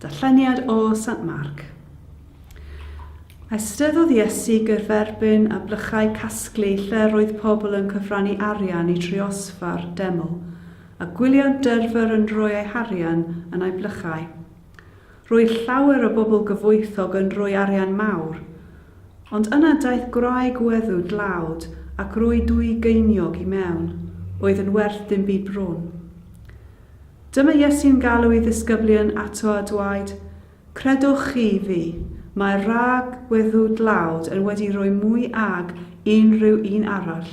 Darlleniad o Sant Marc. Eisteddodd Iesu gyferbyn â blychau casglu lle roedd pobl yn cyfrannu arian i driosfa'r deml, a gwyliant dyrfr yn rhoi eu harian yn ei blychau. Roedd llawer o bobl gyfoethog yn rhoi arian mawr, ond yna daeth gwraig weddw dlawd ac roi dwy geiniog i mewn, oedd yn werth dim byd bron. Dyma Iesu'n galw ei ddisgyblion ato a dwaed, Credwch chi fi, mae'r wraig weddw dlawd yn wedi rhoi mwy ag unrhyw un arall.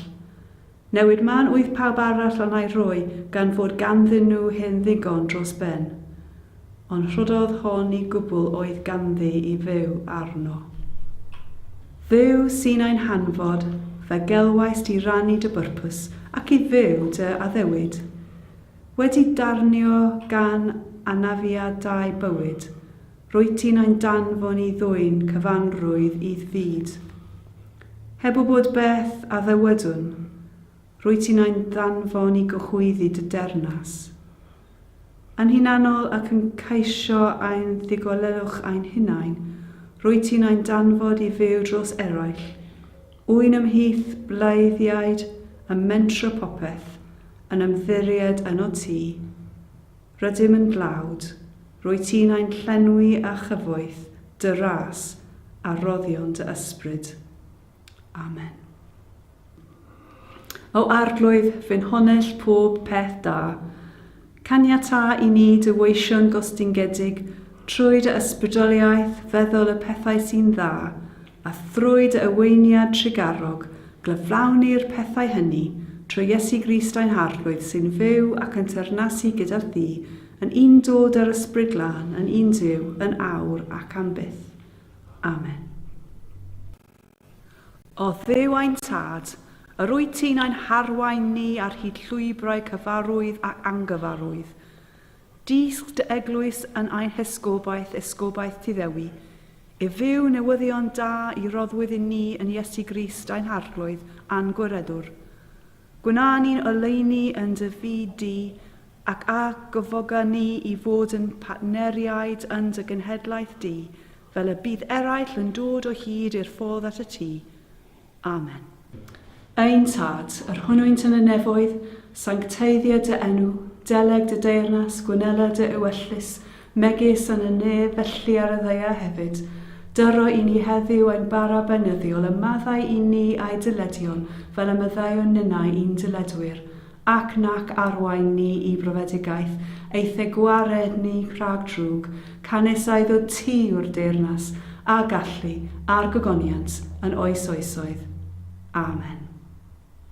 Newid mân oedd pawb arall a wna'i roi gan fod ganddyn nhw hyn ddigon dros ben. Ond rhoddodd hon i gwbl oedd ganddi i fyw arno. Dduw sy'n ein hanfod, fe gelwais di rannu dy byrpws ac i fyw dy addewid. Wedi darnio gan anafiadau bywyd, Rwyt ti'n ein danfon i ddwyn cyfanrwydd i'th fyd. Heb wybod beth a ddywedwn, rwyt ti'n ein danfon i gyhoeddi dy dernas. Yn hunanol ac yn ceisio ein ddigollewch ein hunain, rwyt ti'n ein danfod i fyw dros eraill, ŵyn ymhlith bleiddiaid, yn mentro popeth, yn ymddiried yno ti. Rydym yn dlawd. Rwyt ti'n ein llenwi â chyfoeth dy ras a rhoddion dy ysbryd. Amen. O Arglwydd, fy nhonell pob peth da, caniata i ni dy weisio'n gostyngedig trwy dy ysbrydoliaeth feddwl y pethau sy'n dda A thrwy dy aweiniad trugarog, glyflawnir pethau hynny, trwy Iesu Grist ein Harglwydd, sy'n fyw ac yn teyrnasu gyda Thi, yn un dod â'r Ysbryd Glân, yn un Duw, yn awr ac am byth. Amen. O Dduw ein Tad, yr wyt Ti'n ein harwain ni ar hyd llwybrau cyfarwydd ac angyfarwydd. Dysg dy eglwys yn ein hesgobaeth, esgobaeth Tŷ Ddewi, i fyw newyddion da i roddwyd i ni yn Iesu Grist ein Harglwydd a'n Gwiredwr. Gwna ni'n oleuni yn dy fyd di, ac a gyfoga ni i fod yn partneriaid yn dy genhedlaeth di, fel y bydd eraill yn dod o hyd i'r ffordd at y Tŷ. Amen. Ein Tad, yr hwnnwynt yn y nefoedd, sancteiddia dy enw, deleg dy deyrnas, gwnela dy ewyllys, megis yn y nef, felly ar y ddaear hefyd. Dyro i ni heddiw ein bara beunyddiol, a maddau i ni a'i dyledion, fel y maddeuwn ninnau i'n dyledwyr. Ac nac arwain ni i brofedigaeth, eithe gwared ni rhag drwg, canys a iddo ti yw'r deyrnas, a gallu, a'r gogoniant, yn oes oesoedd. Amen.